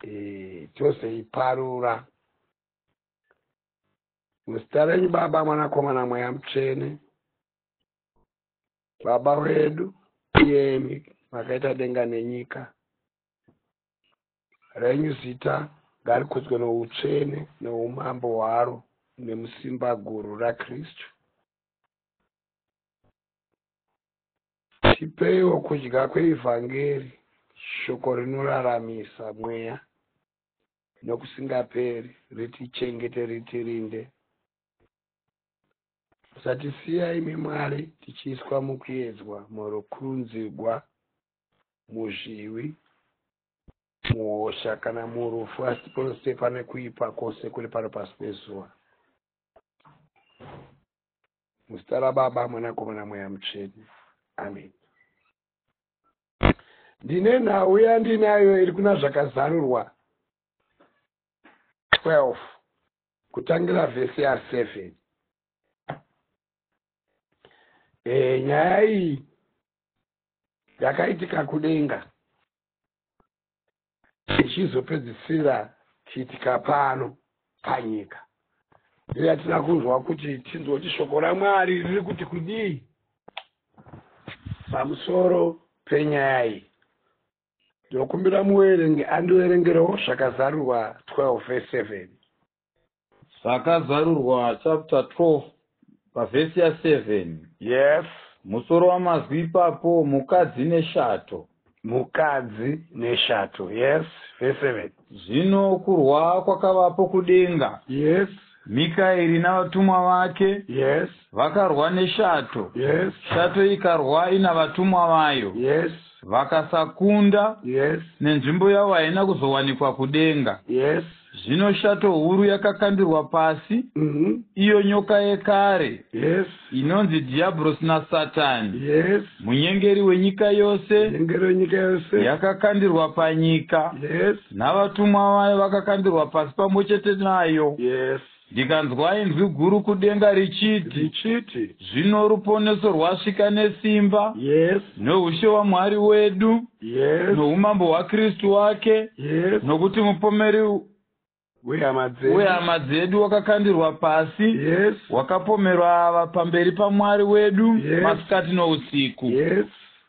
Eh, chose iparura muzita renyu baba mwanakomana mweya mutsvene baba wedu iyemi makaita denga nenyika renyu zita ngarikudzwe noutsvene noumambo hwaro nemusimba guru rakristu Tipeiwo kudya kweivhangeri, shoko rinoraramisa mweya nokusingaperi, ritichengete, ritirinde. Musatisiya, imi Mwari, tichiiswa mukuedzwa, murukunzigwa, muzvivi, muhosha, kana murufu, asi pose pane kuipa kwose kuri pano pasi pezuva. muzita rababa mwanakomana mweya mutsvene amen ndine nhau yandinayo iri kuna zvakazarurwa 12 kutangira vhesi ya7 e, eh, nyaya iyi yakaitika kudenga ichizopedzisira chiitika pano panyika iyo yatina kunzwa kuti tinzwe kuti shoko ramwari riri kuti kudii pamusoro penyaya iyi ndokumbira muverengi andiverengerewo zvakazarurwa 12 ve 7 Zvakazarurwa chapter 12 pavhesi ya 7. Yes. Musoro wamazwi ipapo mukadzi neshato. Mukadzi neshato. Yes, verse 7. Zvino kurwa kwakavapo kudenga. Yes. Mikaeri navatumwa vake. Yes. Vakarwa neshato. Yes. Shato ikarwa ina vatumwa vayo. Yes. Vakasakunda, yes, nenzvimbo yavo haina kuzowanikwa kudenga, yes, zvino shato huru yakakandirwa pasi, mm -hmm. iyo nyoka yekare, yes, inonzi Dhiyabhurosi naSatani, yes, munyengeri wenyika yose, munyengeri wenyika yose, yakakandirwa panyika, yes, navatumwa vayo vakakandirwa pasi pamwe chete nayo, yes. Ndikanzwa inzwi guru kudenga richiti, richiti, Zvino ruponeso rwasvika nesimba, yes, noushe waMwari wedu, yes, noumambo hwaKristu wake, yes, nokuti mupomeri wehama dzedu, wehama dzedu wakakandirwa pasi, yes, wakapomerwa ava pamberi paMwari wedu Yes. masikati nousiku. yes,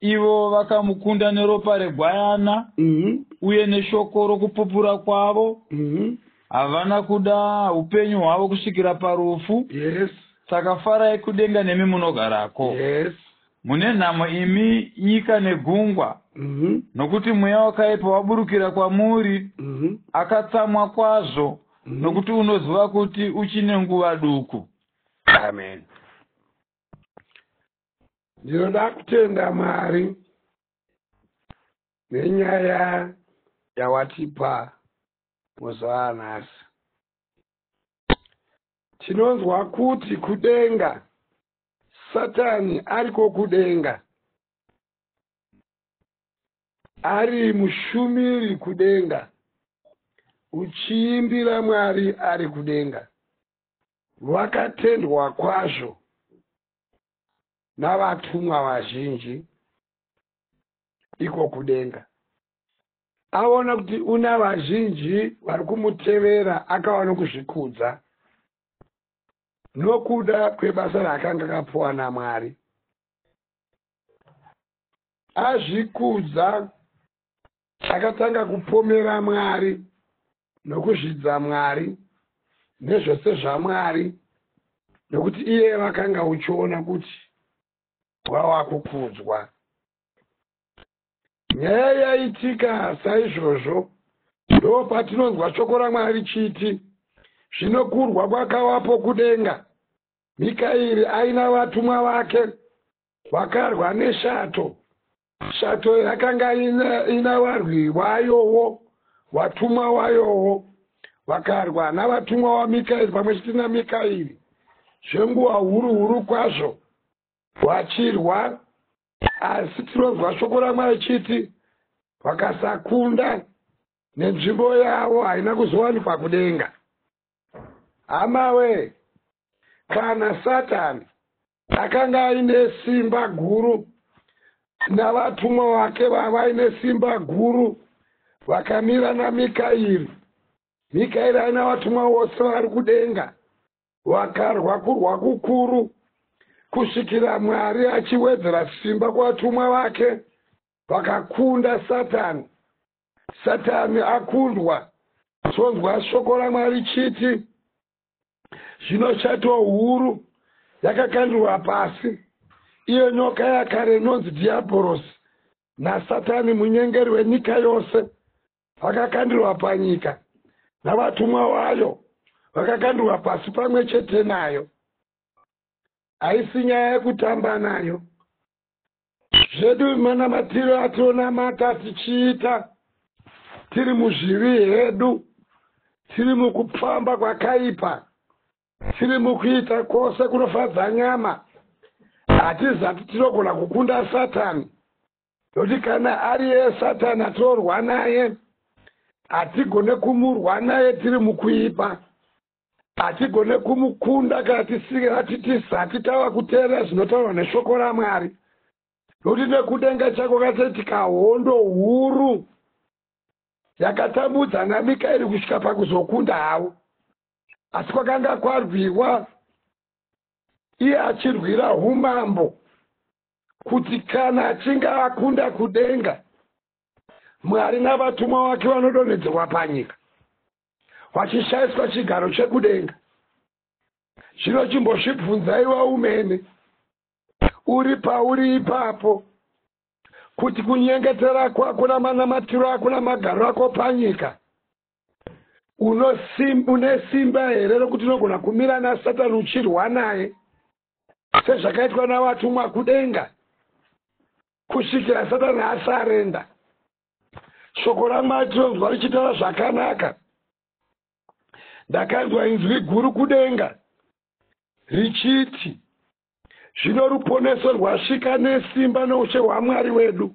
Ivo vakamukunda neropa regwayana mhm, uye neshoko rokupupura kwavo, mhm, Havana kuda upenyu hwavo kusvikira parufu. Yes. Saka farai kudenga nemi munogarako. Yes. Mune nhamo imi nyika negungwa. Mm -hmm. Nokuti mweya wakaipa waburukira kwamuri. Mm -hmm. Akatsamwa kwazvo. Mm -hmm. Nokuti unoziva kuti uchine nguva duku. Amen. Ndinoda kutenda Mwari nenyaya yawatipa muzuva anhasi tinonzwa kuti kudenga satani ariko kudenga ari mushumiri kudenga uchiimbira mwari ari kudenga vakatendwa kwazvo navatumwa vazhinji iko kudenga Aona kuti una vazhinji vari kumutevera akava nokuzvikudza nokuda kwebasa raakanga akapuwa naMwari. Azvikudza akatanga kupomera Mwari nokuzvidza Mwari nezvose zvaMwari nokuti iye vakanga uchiona kuti wava kukudzwa. nyaya yaitika saizvozvo ndo patinonzwa shoko ramwari chiti zvino kurwa kwakawapo kudenga mikairi aina vatumwa vake vakarwa neshato shato yakanga ina, ina varwi vayowo vatumwa wayowo vakarwa navatumwa wamikairi pamwe chete namikairi zvenguva huru huru kwazvo vachirwa Asi tinonzwa shoko raMwari richiti vakasakunda nenzvimbo yavo haina kuzowanikwa kudenga. Hamawe, kana Satani akanga aine simba guru navatumwa vake vavaine simba guru vakamira naMikairi, Mikairi aina vatumwa vose vari kudenga Vakarwa kurwa kukuru kusvikira Mwari achiwedzera simba kuvatumwa vake vakakunda Satani. Satani akundwa, tonzwa shoko raMwari chiti, zvino shato huru yakakandurwa pasi, iyo nyoka yakare inonzi Dhiabhorosi naSatani munyengeri wenyika yose, vakakandirwa panyika navatumwa wayo vakakandirwa pasi pamwe chete nayo haisi nyaya yekutamba nayo zvedu manamatiro ationamata tichiita tiri muzvivi hedu tiri mukupfamba kwakaipa tiri mukuita kwose kunofadza nyama hatizati tinogona kukunda satani Nekuti kana ari iye Satana torwa naye, hatigone kumurwa naye tiri mukuipa. Hatigone kumukunda kana tisati tava kuteerera zvinotaurwa neshoko raMwari. Nekuti nekudenga chako katoitika hondo huru yakatambudza naMikaeri kusvika pakuzokunda havo. Asi kwakanga kwarwiwa iye achirwira umambo kuti kana achinge akunda kudenga mwari navatumwa wake vanodonhedzerwa panyika vachishaiswa chigaro chekudenga zvino chimbozvibvunzaiwa umene uri pauri ipapo kuti kunyengetera kwako namanamatiro ako namagariro ako panyika Une simba here rokuti unogona kumira naSatani uchirwa naye sezvakaitwa navatumwa kudenga kusvikira Satani asarenda? Shoko raMwari tinonzwa richitaura zvakanaka. Ndakanzwa inzwi guru kudenga richiti, Zvino ruponeso rwasvika nesimba noushe hwaMwari wedu,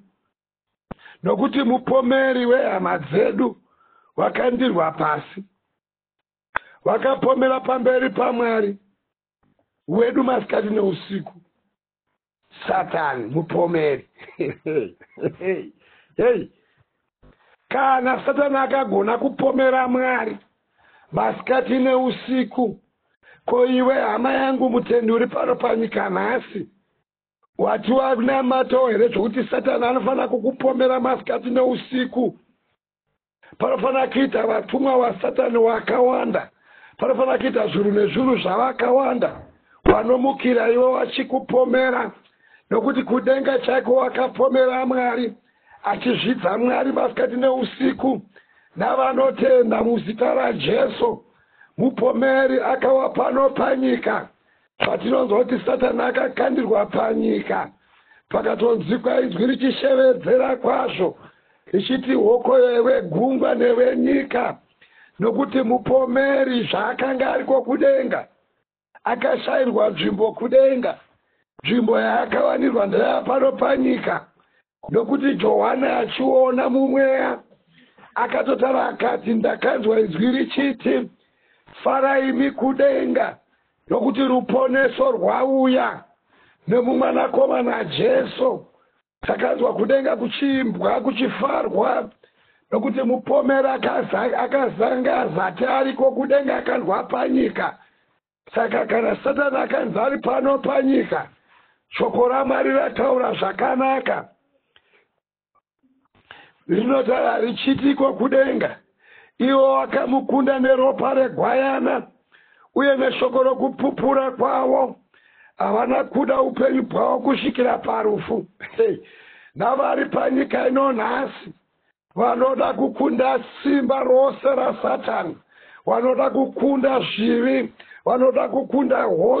nokuti mupomeri wehama dzedu wakandirwa pasi vakapomera pamberi pamwari wedu masikati neusiku satani mupomeri hei kana satani akagona kupomera mwari masikati neusiku ko iwe hama yangu mutendi uri pano panyika nhasi Wati wakunamatawo here zvekuti satani anofanira kukupomera masikati neusiku? Panofanira kuita vatumwa vasatani wakawanda. Panofanira kuita zvuru nezvuru zvavakawanda wanomukira iwe wachikupomera, nokuti kudenga chaiko wakapomera Mwari, achizvidza Mwari masikati neusiku navanotenda muzita raJesu. Mupomeri akawa pano panyika Patinonzwa kuti Satani akakandirwa panyika, pakatonzwikwa inzwi richishevedzera kwazvo richiti, Hokoyo iwe gungwa newe nyika, nokuti mupomeri zvaakanga ariko kudenga akashairwa nzvimbo kudenga, nzvimbo yaakawanirwa ndeyapano panyika, Nokuti Johani achiona mumweya, akatotara akati, Ndakanzwa izwi richiti, Farai imi kudenga, nokuti ruponeso rwauya nemumwanakomana Jesu. Takanzwa kudenga kuchiimbwa, kuchifarwa, nokuti mupomeri akazanga azati ariko kudenga akandwa panyika. Saka kana Satani akanzi ari pano panyika, shoko raMwari rataura zvakanaka rinotaura richitiko kudenga, ivo wakamukunda neropa regwayana uye neshoko rokupupura kwavo havana kuda upenyu bwavo kusvikira parufu navari panyika ino nhasi Vanoda kukunda simba rose raSatani. Vanoda kukunda zvivi. Vanoda kukunda hosha.